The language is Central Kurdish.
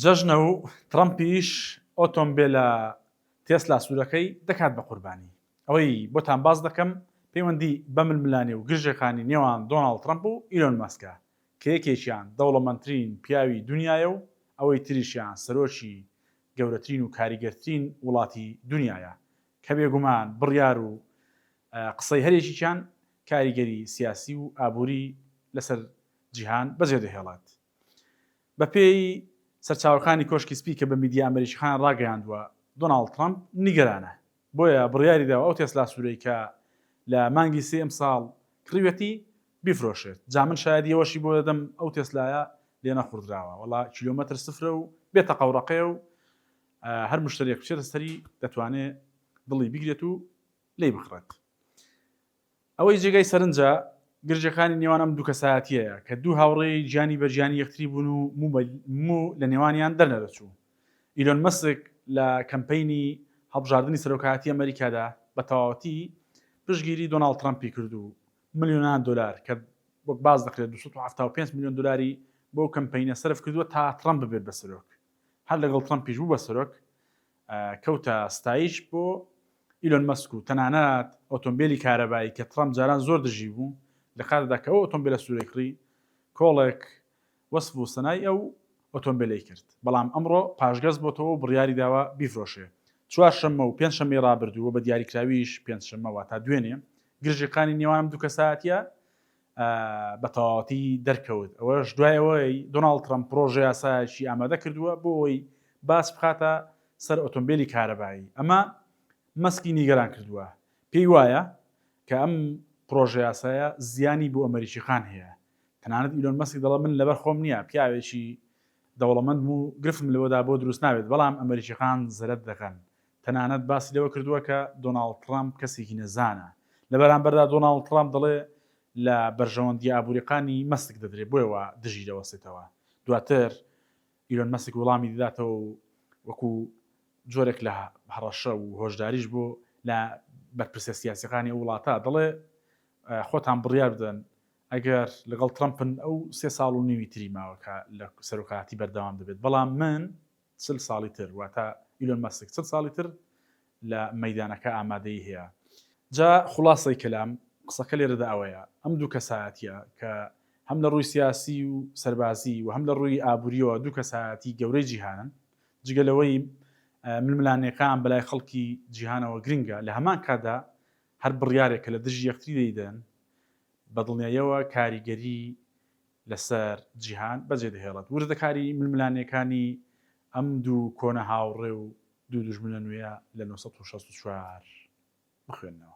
جەژنە و تڕەمپیش ئۆتۆمبێلە تێسلا سوورەکەی دەکات بە قوربانی. ئەوەی بۆتان باس دەکەم پەیوەندی بە ململانێ و گرژەکانی نێوان دۆناڵد تڕەمپ و ئیلۆن مەسکە کە یەکێکیان دەوڵەمەندترین پیاوی دونیایە و ئەوەی تریشیان سەرۆکی گەورەترین و کاریگەرترین وڵاتی دونیایە کە بێگومان بڕیار و قسەی هەریەکێکیان کاریگەری سیاسی و ئابووری لەسەر جیهان بەجێدەهێڵێت. بەپێی سەرچاوەکانی کۆشکی سپی کە بە میدیا ئەمەریکیەکان ڕاگەیاندووە، دۆناڵد ترەمپ نیگەرانە، بۆیە بڕیاریداوە ئەو تێسلا سوورەی کە لە مانگی سێی ئەمساڵ کڕیویەتی، بیفرۆشێت، جا من شایەدی ئەوەشی بۆ دەدەم ئەو تێسلایە لێنەخوڕدراوە، وەڵا کیلۆمەتر سفرە و بێ تەقە و ڕەقەیە و هەر مشتەریەک بچێتە سەری دەتوانێت دڵی بگرێت و لێی بکڕێت. ئەوەی جێگای سەرنجە، گرژەکانی نێوان ئەم دوو کەسایەتییەیە، کە دوو هاوڕێی گیانی بە گیانی یەکتری بوون و موو لە نێوانیان دەرنەدەچوو. ئیلۆن مەسک لە کەمپەینی هەڵبژاردنی سەرۆکایەتی ئەمەریکادا بە تەواوەتی پشتگیری دۆناڵد ترەمپی کرد و ملیۆنان دۆلار، کە وەک باس دەکرێت دوو سەد و حەفتا و پێنج ملیۆن دۆلاری بۆ ئەو کەمپەینە سەرف کردووە تا ترەمپ ببێت بە سەرۆک. هەر لەگەڵ ترەمپیش بوو بە سەرۆک کەوتە ستایش بۆ ئیلۆن مەسک و تەنانەت ئۆتۆمبیلی کارەبایی کە ترەمپ جاران زۆر دژی بوو لە کاتدا کە ئەو ئۆتۆمبیلە سوورەی کڕی کۆڵێک وەسف و سەنای ئەو ئۆتۆمبیلەی کرد بەڵام ئەمڕۆ پاشگەز بۆتەوە و بڕیاری داوە بیفرۆشێ چوارشەممە و پێنجشەممەی ڕابردوو و بە دیاریکراویش پێنجشەممە واتا دوێنێ گرژیقانی نێوان ئەم دوو کەسایەتیە بە تەواوەتی دەرکەوت، ئەوەش دوای ئەوەی دۆناڵد ترەمپ پڕۆژەیاسایەکی ئامادە کردووە بۆ ئەوەی باج بخاتە سەر ئۆتۆمبێلی کارەبایی، ئەمە مەسکی نیگەران کردووە، پێی وایە کە ئەم پڕۆژەیاسایە زیانی بۆ ئەمەریکییەکان هەیە، تەنانەت ئیلۆن مەسک دەڵێت من لەبەر خۆم نییە، پیاوێکی دەوڵەمەندم و گرفتم لەوەدا بۆ دروست نابێت، بەڵام ئەمەریکییەکان زەرەر دەکەن، تەنانەت باسی لەوە کردووە کە دۆناڵد تڕەمپ کەسێکی نەزانە. لە بەرامبەردا دۆناڵد تڕەمپ دەڵێ لە بەرژەوەندییە ئابووریەقانی مەسک دەدرێ بۆیە وا دژی دەوەستێتەوە. دواتر ئیلۆن مەسک وڵامی دەداتەوە و وەکو جۆرێک لە هەڕەشە و هۆشداریش بۆ لە بەرپرسە سیاسیەقانی ئەو وڵاتە دەڵێ خۆتان بڕیار بدەن ئەگەر لەگەڵ تڕەمپن ئەو سێ ساڵ و نیوی تری ماوە کە لە سەرۆکایەتی بەردەوام دەبێت بەڵام من چل ساڵی تر واتە ئیلۆن مەسک چل ساڵی تر لە مەیدانەکە ئامادەیی هەیە. جا خوڵاسەی کەلام قسەکە لێرەدا ئەوەیە ئەم دوو کەسایەتیە کە هەم لە ڕووی سیاسی و سەربازی و هەم لە ڕووی ئابووریەوە دوو کەسایەتی گەورەی جیهانن جگە لەوەی ململانێکان بەلای خەڵکی جیهانەوە گرنگە لە هەمان کاتدا هەر بڕیارێک کە لە دژی یەکتری دەیدەن بە دڵنیایەوە کاریگەری لەسەر جیهان بەجێ دەهێڵێت. وردەکاریی ململانێکانی ئەم دوو کۆنە هاوڕێ و دوو دوژمنە نوێیە لە نۆ سەد و شەست و چوار بخوێنەوە.